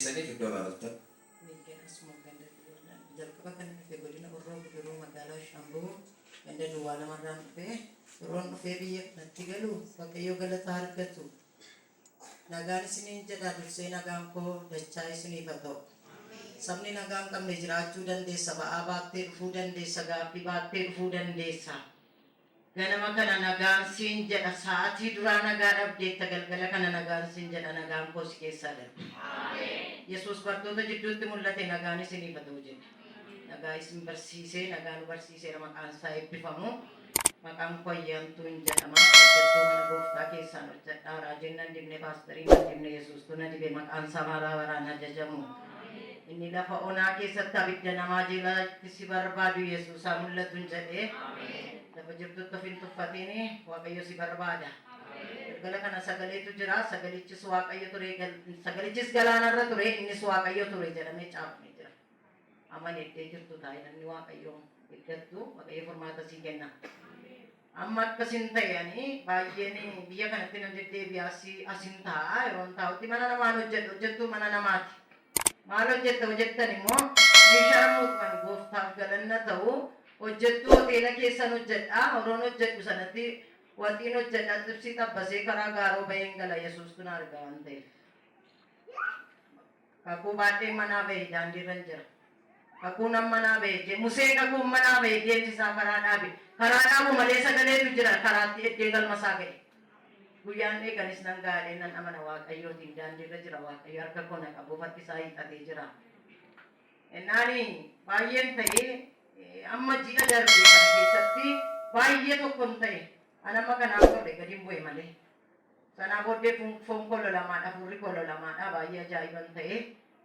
Isaniif iddoo irraa dhuftan. Miidiyaa Asumaan ganda Duwwaa jalqaba kan dhufe godina Horroo Guduruu magaalaa Shaambuu ganda Duwwaa lamarraan dhufe yeroon dhufee biyya kanatti galu Waaqayyo galata argatu Nagaan isiniin jedha dursee nagaan koo dachaa isiniif ha ta'u sabni nagaa hin qabne jiraachuu dandeessa ba'aa baattee dhufuu dandeessa gaaffii baattee dhufuu dandeessa ganama kana nagaan siin jedha sa'atii duraa nagaa dhabdeetta galgala kana nagaan siin jedha nagaan koo si keessaa darbe yesuus bartoota jidduutti mul'ate nagaan isiniif ha ta'u jedhe nagaa isin barsiisee nagaa nu barsiiseera maqaan isaa eebbifamu. Maqaan koo Ayyaantuun jedhama. Hojjettuu mana Gooftaa keessaan hojjedha. Raajiin nan dibne, paastariin nan dibne, Yesuustuu na dibe. Maqaan isaa bara baraan hajajamu. Inni lafa onaa keessatti abidda namaa jeelatti si barbaadu Yesuus haa mul'atuun jedhe. Lafa jirtutti of hin tuffatiin Waaqayyo si barbaada. Galgala kana sagaleetu jira. Sagalichis Waaqayyo ture, sagalichis galaanarra ture, innis Waaqayyo ture jedhamee caafamee jira. Amanette jirtu ta'i namni waaqayyo iddattu waaqayyo furmaata sii kenna. Amma akkasin ta'e ani baay'een biyya kanatti nan deddeebi'a asi asin taa'a yeroon taa'utti mana namaan hojjedha hojjettuu mana namaati. Maal hojjetta hojjettan immoo ni sharmuuxxan gooftaaf galanna ta'u hojjettuu hoteela keessan hojjedha horoon hojjedhu sanatti waxiin hojjedha xibsii xabbasee karaa gaaroo baheen gala yesuustu na arga waan ta'eef. Kakuu baadheen manaa bahe daandiirran jira. Kakuu nan manaa bahe jee Museen kakuun manaa bahe deemsi isaa karaa dhaabe. Karaa dhaabu malee sagaleetu jira karaatti eddee galma isaa gahe. Guyyaan eege anis nan gaha jedhee nan amana Waaqayyootiin daandiirra jira Waaqayyo harka koo na qabuuf harki isaa hiixatee jira. Ennaani baay'een ta'e amma ji'a darbe kana keessatti baay'ee tokkon ta'e an amma kanaan godhe gadin bu'e malee. Sanaa booddee foon koo lolamaadha, hafuurri koo lolamaadha, baay'ee ajaa'iban ta'e.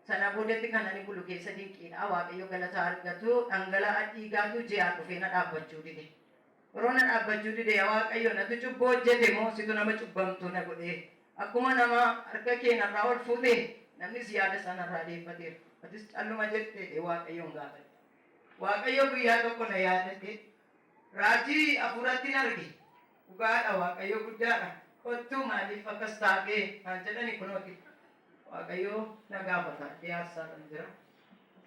Sana boodetti kan ani bulu keessa dinqiidha, Waaqayyo galata haa argatu, dhangala'a dhiigaatu ji'aan dhufee na dhaabbachuu dide. Yeroo na dhaabbachuu dide, yaa Waaqayyo natu cubbuu hojjete moo situ nama cubbamtuu na godhe? Akkuma nama harka kee narraa ol fuute, namnis yaada isaa narraa deeffateera. Atis calluma jette jedhee Waaqayyoon gaafadhe. Waaqayyo guyyaa tokko na yaadate, raajii hafuurattin arge. Dhugaadha waaqayyo guddaadha kottu maaliif akkas taate naan jedhani kunooti waaqayyo na gaafata iddee aarsaadhan jira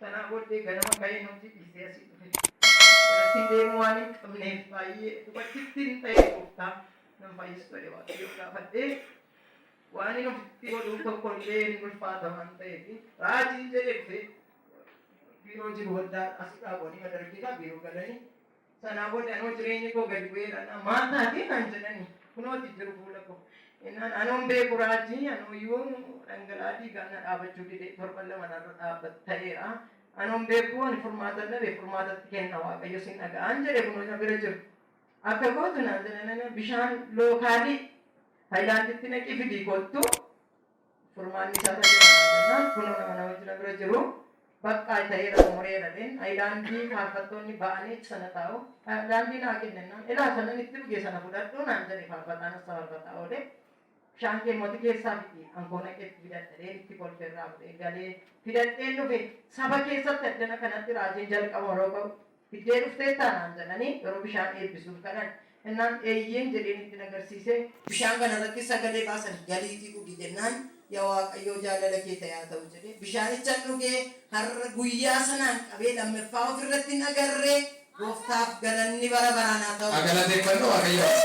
sanaa booddee ganama ka'ee nuuti dhiisee asii dhufe garattiin deemuu waan hin qabneef baay'ee dubartittiin ta'ee gooftaa nan fayyistu jedhe waaqayyo gaafadhee waan hin ofitti godhuu tokko illee hin ulfaata waan ta'eef raajiin jedhe dhufe biiroo jiru waldaa asidhaa goonii madargiidhaa biiroo galanii Sanaa booda anoo jireenyi koo gadi bu'ee ilaalaa maal taatee naan jedhani kunooti jiru fuula koo. Innaan anoon beeku raajii anooyyuu dhangala'aa dhiigaa na dhaabachuu dide torban lama narra dhaabbat ta'eera. Anoon beeku ani furmaatan dhabe furmaatatti kenna waaqayyo sin dhaga'aan jedhe kunoo na bira jiru. Akka gootu naan jedhanana bishaan lookaalii hayilaanditti naqii fidii kottu Furmaanni isaa irra jira maal jennaan kunoo nama namichi na bira jiru baqqaa ta'eera xumureera dheen ayilaandii faarfattoonni ba'aniit sana taa'u ayilaandii naa kenni jennaan ilaa sanan itti dhuge sana fudhadhu naan jedhe faarfataan ossa faarfataa oole bishaan kee immoo ati keessaa fidi an koo naqee itti fidadha dheen itti kolfe irraa fudhee galee fidadheen dhufe saba keessatti addana kanatti raajiin jalqabama yeroo ka'u Fiddee dhufteettaa? naan jedhanii yeroo bishaan eebbisuuf kadhan. Innaan eeyyeen jedheen itti nagarsiisee. Bishaan kana irratti sagalee baasanii galiitii dhugi jennaan ya Waaqayyoo jaalala kee ta'e haa ta'u jedhee bishaanichan dhuge har'a guyyaa sanaan qabee lammeffaa of irratti hin agarre gooftaaf galanni bara baraan haa ta'u. Haa galateeffannu Waaqayyoon.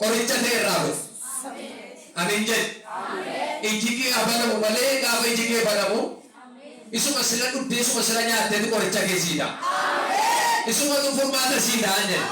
Qoricha ta'e irraa ba'i. Ameen jedhi. Iji kee haa banamu malee gaafa iji kee banamu isuma sila dhudde isuma sila nyaattetu qoricha kee sii ta'a. Isumatu furmaata sii ta'a jedhi.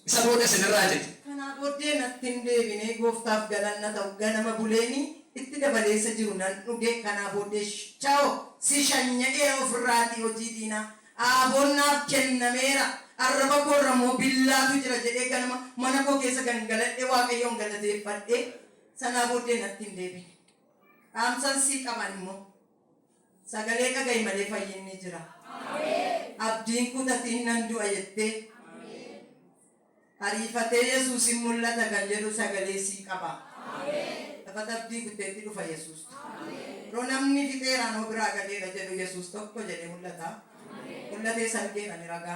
Isa booda isin irraa citi. Kanaa booddee natti hin deebine. Gooftaaf galanna ta'u ganama buleeni itti dabalee isa jiru nan dhuge. Kanaa booddee ciao si shanya'eera ofirraatii hojii diinaa. Aaboon naaf kennameera, arraba koo irra immoo billaatu jira jedhee ganama mana koo keessa gangaladhee Waaqayyoon galateeffadhee sanaa booddee natti hin deebine. Dhaamsan sii qaba ani immoo. Sagalee dhaga'i malee fayyinni jira. Abdiin kutatiin nan du'a jettee. Ariifatee Yesuus in mul'ata kan jedhu sagalee sii qaba. Taphata abdii kutteetti dhufa Yesuus. Yeroo namni fixeera anoo biraa gadeera jedhu Yesuus tokko jedhee mul'ata. Mul'atees argeera ni ragaa.